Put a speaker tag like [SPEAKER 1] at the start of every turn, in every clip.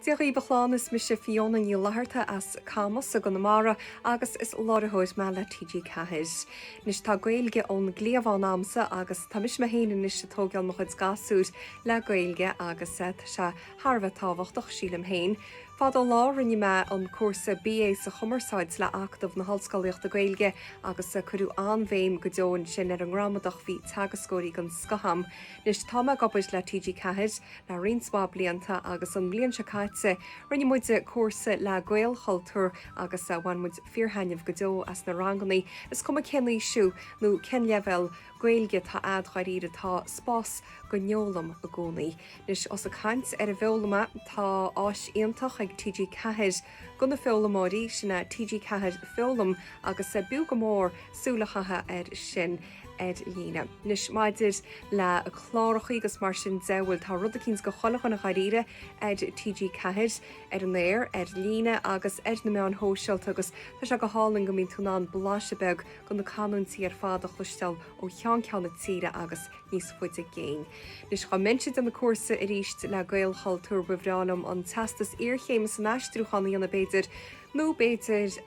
[SPEAKER 1] Dia dhaoibh, is mise Fíona Ní Fhlaithearta as Camas i gConamara agus is láiritheoir mé le TG4. Anois tá Gaeilge ón gcliabhán a'msa agus tá mise mé féin anois ag tóigeáil mo chuid gasúir le Gaeilge agus tá sé thar a bheith tábhachtach, sílim féin. Fadó an lá rinne mé an cúrsa BA sa Chumarsáid le Acadamh na hOllscolaíochta Gaeilge agus cuireadh an-bhéim go deo ansin ar an ngramadach, bhí teagascóirí den scoth a'm. Anois tá mé ag obair le TG4 le roinnt mhaith blianta agus an bhliain seo caite rinne muid cúrsa le Gaelchultúr agus bhain muid fíorthaitneamh go deo as na ranganna, is cuma cén aois thú nó cén leibhéal Gaeilge atá a'd dháiríre tá spás don fhoghlaim i gcónaí. Anois ós ag caint ar an bhfoghlaim, tá áis iontach ag TG4 do na foghlaimeoirí, sin é TG4 Foghlaim agus b'fhiú go mór súil a chaitheamh air sin. ar líne. Anois, maidir le clárachaí agus mar sin de, bhuel tá rud eicínt do chuile dhuine dháiríre ar TG4, ar an aer, ar líne agus ar na meáin shóisialta agus tá sé go hálainn go mbíonn tú in ann blaiseadh beag de na canúintí ar fad a chloisteáil ó cheann ceann na tíre agus níos faide i gcéin. Anois, dá mbeinnse ag déanamh cúrsa aríst le Gaelchultúr, ba bhreá liom an Teastas Iarchéime san Aistriúchán a dhéanamh b'fhéidir, Nó b'fhéidir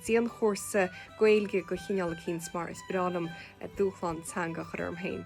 [SPEAKER 1] dianchúrsa Gaeilge de chineál eicínt, mar is breá liom dúshlán teanga a chur romham féin.